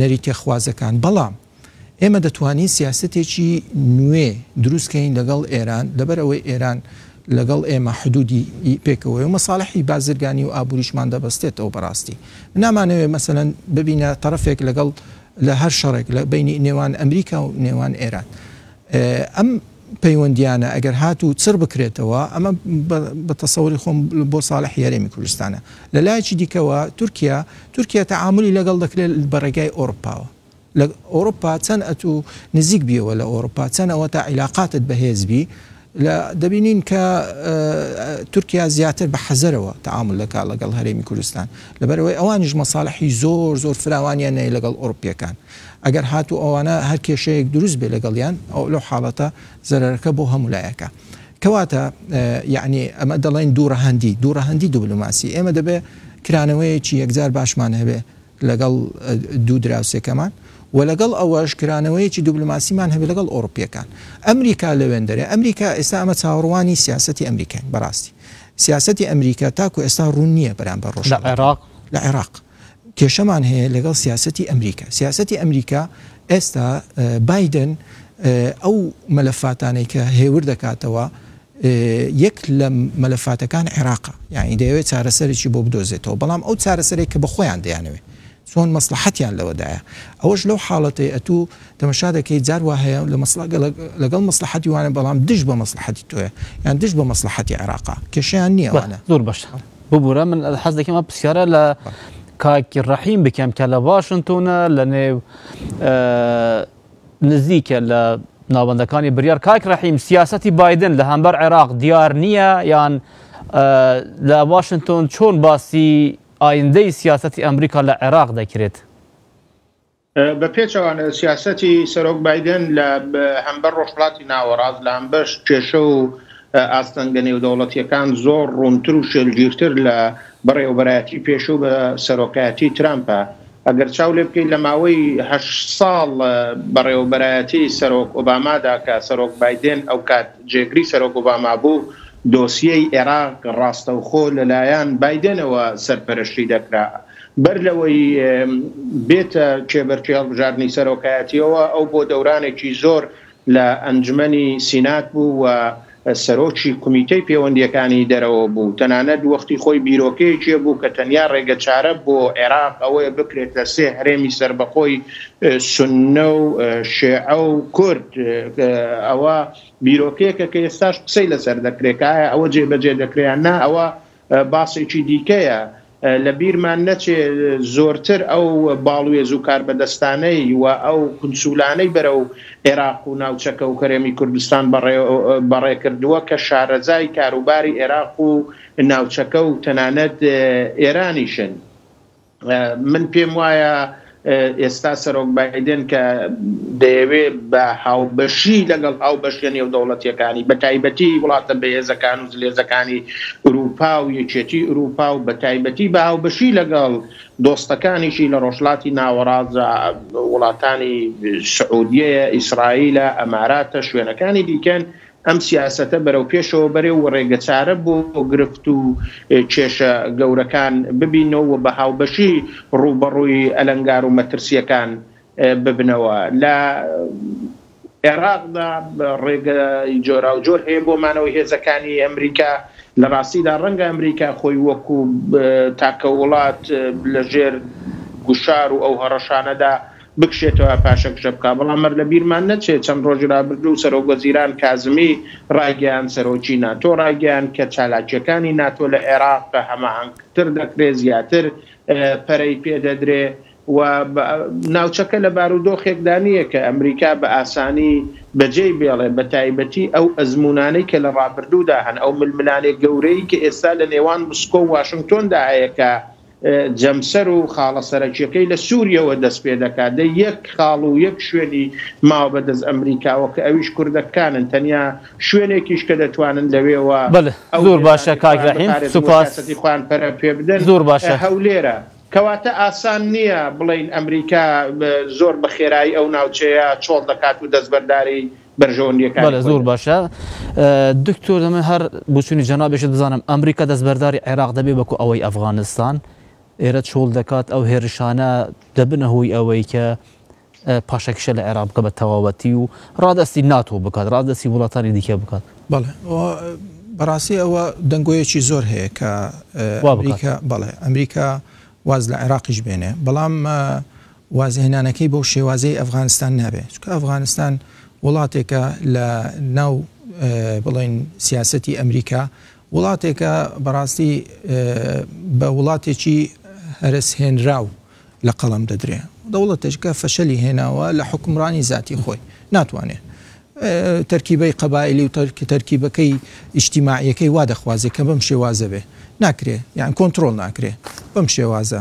Speaker 1: نەریتێخوازەکان، بەڵام ئێمە دەتوانین سیاسەتێکی نوێ دروست کەین لەگەڵ ئێران، لەبەر ئەوەی ئێران لەگەڵ ئێمە حدودی پێکەوەیەو مەسالحی بازرگانی و ئابوریشمان دەبەستێتەوە بەراستی نامانەوێت مەسەلەن ببینە تەرەفێک لەگەڵ لە هەر شەڕێک لە بینی نێوان ئەمریکا و نێوان ئێران ئەم پەیوەندیانە ئەگەر هات و چڕ بکرێتەوە ئەمە بە تەسەوری خۆم بۆ ساڵح یاێمی کوردستانە لە لایەکی دیکەوە تورکیا تورکیا تەعاملی لەگەڵ دەکرێت بەڕێگای ئۆرپاوە لە ئۆروپا چەن ئەتوو نزیک بیەوە لە ئۆروپا چەن ئەوەتا عیلاقاتت بەهێز بی لە دەبینین کە تورکیا زیاتر بە حەزەرەوە تەعامل دەکا لەگەڵ هەرێمی کوردستان لەبەرەوەی ئەوانیش مەساڵحی زۆر زۆر فراوانیان نەیە لەگەڵ ئۆروپیەکان ئەگەر هاتوو ئەوانە هەر کێشەیەک دروست بێ لەگەڵیان ئەو لەو حاڵەتە زەرەرەکە بۆ هەموو لایەکە کەواتە یعنی ئەمە دەڵێن دوو ڕەهەندی دوو ڕەهەندی دوبلوماسی ئێمە دەبێ کرانەوەیەکی یەکجار باشمان هەبێ لەگەڵ دوو دراوسێکەمان و لەگەڵ ئەوەش کرانەوەیەکی دوبلۆماسیمان هەبێت لەگەڵ ئەوڕپییەکان. ئەمریکا لەوێندەرە، ئەمریکا ئێستا ئەمە چاوەڕوانی سیاسەتی ئەمریکاین بەڕاستی. سیاسەتی ئەمریکا تاکو ئێستا ڕوون نییە بەرامبەر ڕۆژهەڵاتی. لە عێراق؟ لە عێراق کێشەمان هەیە لەگەڵ سیاسەتی ئەمریکا. سیاسەتی ئەمریکا ئێستا بایدن ئەو مەلەفاتانەی کە هێور دەکاتەوە، یەک لە مەلەفاتەکان عێراقە، یەعنی دەیەوێت چارەسەرێکی بۆ بدۆزێتەوە، بەڵام ئەو چارەسەرەی کە بە خۆیان دەیانەوێت، چۆن مەسڵەحەتیان لەوەدایە، ئەوەش لەو حاڵەتەی ئەتوو تەمەشا دەکەیت جار وا هەیە لە مەسڵەگە لەگەڵ مەسڵەحەتی وانە بەڵام دژ بە مەسڵەحەتی تۆیە، یان دژ بە مەسڵەحەتی عێراقە، کێشەیان نییە ئەوانە. زۆر باشە، ببورە من حەز دەکەم ئەم پرسیارە لە کاک ڕەحیم بکەم کە لە واشنتۆنە لەنێو نزیکە لە ناوەندەکانی بریار کاک رحیم سیاسەتی بایدن لە هەمبەر عێراق دیار نییە یان لە واشنتۆن چۆن باسی ئایندەی سیاسەتی ئەمریکا لە عێراق دەکرێت؟ بە پێچەوانە سیاسەتی سەرۆک بادن لە هەمبەر ڕۆژهڵاتی ناوەڕاست لە ئەمبەش کێشە و ئاستەنگە نێودەوڵەتیەکان زۆر ڕوونتر و شێلگیرتر لە بەڕێوەبەرایەتی پێشوو بە سەرۆکایەتی ترامپە ئەگەر چاو لێ بکەیت لە ماوەی هەشت ساڵ بەڕێوەبەرایەتی سەرۆک ئۆبامادا کە سەرۆک بایدێن ئەوکات جێگری سەرۆک ئۆباما بوو، دۆسیەی ئێراق ڕاستەوخۆ لەلایەن بایدێنەوە سەرپەرشتی دەکرا. بەر لەوەی بێتە کێبەرکێی هەڵبژاردنی سەرۆکایەتییەوە، ئەو بۆ دەورانێکی زۆر لە ئەنجومەنی سینات بوو و سەرۆکی کومیتەی پێوەندییەکانی دەرەوە بوو، تەنانەت وەختی خۆی بیرۆکەیەکی هەبوو کە تەنیا ڕێگەچارە بۆ عێراق ئەوەیە بکرێت لە سێ هەرێمی سەربەخۆی سوننە و شێعە و کورد. ئەوە بیرۆکەیەکە کە ئێستاش قسەی لەسەر دەکرێت کە ئایا ئەوە جێبەجێ دەکرێت یان نا، ئەوە باسێکی دیکەیە لە بیرمان نەچێ زۆرتر ئەو باڵوێز و کاربەدەستانەی و ئەو کونسولانەی بەرەو ئێراق و ناوچەکە و هەرێمی کوردستان بەڕێ کردووە کە شارەزای کاروباری ئێراق و ناوچەکە و تەنانەت ئێرانیشن. من پێم وایە ئێستا سەرۆک بایدن کە دەیەوێ بە هاوبەشی لەگەڵ هاوبەشە نێودەوڵەتیەکانی بە تایبەتی وڵاتە بەهێزەکان و زلێزەکانی ئوروپا و یەکێتی ئوروپا و بە تایبەتی بە هاوبەشی لەگەڵ دۆستەکانیشی لە ڕۆژلاتی ناوەڕازە وڵاتانی سعودیەیە ئیسرائیلە ئەماراتە شوێنەکانی دیکەن ئەم سیاسەتە بەرەو پێشەوە بەرێ و رێگە چارە بۆ گرفت و کێشە گەورەکان ببینەوە و بە هاوبەشی رووبەڕووی ئەلەنگار و مەترسییەکان ببنەوە. لە عێراقدا رێگە جۆراوجۆر هەیە بۆ مانەوەی هێزەکانی ئەمریکا، لە راستیدا رەنگە ئەمریکا خۆی وەکو تاکە وڵات لە ژێر گوشار و ئەو هەڕەشانەدا، بکشێتەوە پاشەکشە بکات، بەڵام مەر لە بیرمان نەچێت چەند ڕۆژی ڕابردوو سەرۆک وەزیران کازمی ڕایگەیاند سەرۆکی ناتۆ ڕایگەیاند کە چالاکییەکانی ناتۆ لە عێراق بە هەماهەنگتر دەکرێت زیاتر پەرەی پێ دەدرێت و ناوچەکە لە بارودۆخێکدا نییە کە ئەمریکا بە ئاسانی بەجێی بێڵێت بە تایبەتی ئەو ئەزموونانەی کە لە ڕابردوودا هەن ئەو ململانێ گەورەی کە ئێستا لە نێوان مسکۆ و واشنگتۆندا هەیە کە جەمسەر و خاڵە سەرەکیەکەی لە سوریەوە دەست پێ دەکات دەی یەک خاڵ و یەک شوێنی ماوە بە دەست ئەمریکاوە کە ئەویش کوردەکانن تەنیا شوێنێکیش کە دەتوانن لەوێوە بەلێ زور باشە کاک رەحیم سوپاس سیاسەتی خۆیان پەرە پێ بدەن زور باشە هەولێرە کەواتە ئاسان نیە بڵێین ئەمریکا زۆر بە خێرایی ئەو ناوچەیە چۆڵ دەکات و دەستبەرداری بەرژەوەندیەکانی خۆی دەبێت. دکتۆر دەمە هەر بچونی جەنابێشت بزانم ئەمریکا دەستبەرداری عێراق دەبێ بەکو ئەوەی ئەفغانستان ئێرە چۆڵ دەکات ئەو هێرشانە دەبنە هۆی ئەوەی کە پاشەکیشە لە عێرا بکە بە تەواوەتی و ڕادستی ناتۆ بکات ڕادستی وڵاتانی دیکە بکات بەڵێ بەڕاستی ئەوە دەنگۆیەکی زۆر هەیە کە بەڵێ ئەمریکا واز لە عێراقیش بێنێ بەڵام وازهێنانەکەی بەو شێوازەی ئەفغانستان نابێت، چونکە ئەفغانستان وڵاتێکە لە ناو بڵێن سیاسەتی ئەمریکا، وڵاتێکە بەڕاستی بە وڵاتێکی هەرەسهێنراو لە قەڵەم دەدرێ، دەوڵەتێکە فەشەلی هێناوە لە حوکمڕانی زاتی خۆی، ناتوانێ تەرکیبەی قەبائیلی و تەرکیبەکەی ئیجتیماعیەکەی وا دەخوازێ کە بەم شێوازە بێ، ناکرێ یان کۆنتڕۆڵ ناکرێ بەم شێوازە.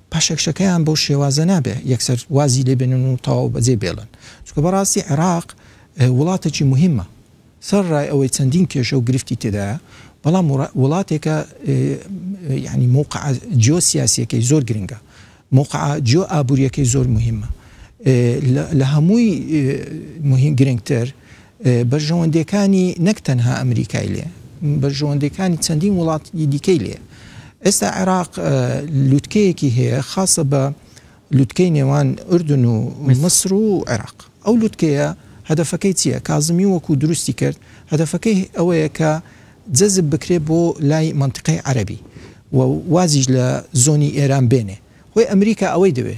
Speaker 1: پاشەکشەکەیان بەو شێوازە نابێ یەکسەر وازی لێ بێنن و تەواو بەجێی بێڵن، چونکە بەڕاستی عێراق وڵاتێکی موهیمە، سەرەڕای ئەوەی چەندین کێشە و گرفتی تێدایە، بەڵام وڵاتێکە یانی مەوقعە جیۆسیاسییەکەی زۆر گرنگە، مەوقعە جیۆئابوورییەکەی زۆر موهیمە، لە هەمووی موهیم گرنگتر، بەرژەوەندیەکانی نەک تەنها ئەمریکای لێ بەرژەوەندیەکانی چەندین وڵاتی دیکەی لێ ئێستا عێراق لوتکەیەکی هەیە خاصە بە لوتکەی نێوان ئوردن و مصر و عێراق ئەو لوتکەیە هەدفەکەی چییە کازمی وەکو دروستی کرد هەدفەکەی ئەوەیە کە جەزب بکرێت بۆ لای منتیقی عەربی و وازیش لە زۆنی ئێران بێنێ هۆی ئەمریکا ئەوەی دەوێ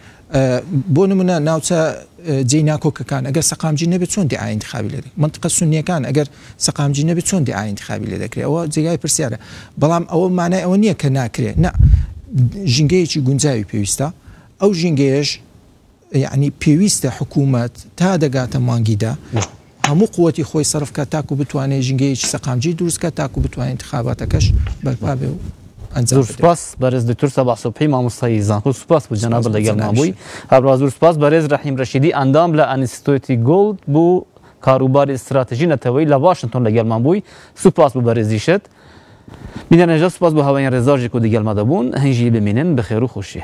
Speaker 1: بۆ نمونە ناوچە جێی ناکۆکەکان ئەگەر سەقامگیر نەبێت چۆن دیعای انتخابی لێ دەکرێت مەنتقە سونیەکان ئەگەر سەقامگیر نەبێت چۆن دیعای انتخابی لێ دەکرێت ئەوە جێگای پرسیارە بەڵام ئەوە مانای ئەوە نییە کە ناکرێت نا ژینگەیەکی گونجاوی پێویستە ئەو ژینگەیەش یعنی پێویستە حکوومەت تا دەگاتە مانگیدا هەموو قوتی خۆی سەرف کات تاکو بتوانێت ژینگەیەکی سەقامگیر دروست کات تاکو بتوانێت انتخاباتەکەش بەرپا بێ و ئەنجام بدرێت. زۆر سوپاس بەرێز دکتۆر سەباح سوبحی مامۆستای زانکۆ سوپاس بۆ جەنابت سوپاس بۆ لەگەڵمان جەنابیشت. بووی هەروەها زۆر سوپاس بەرێز رەحیم رەشیدی ئەندام لە ئەنیستۆیتی گۆڵد بۆ کاروباری ستراتژی نەتەوەیی لە واشنتۆن لەگەڵمان بووی سوپاس بۆ بەرێزیشت بینەرنێژە سوپاس بۆ هاوەین رێزاژێک و دگەلما دەبوون هەیژی بمینن بەخێرو خۆشی.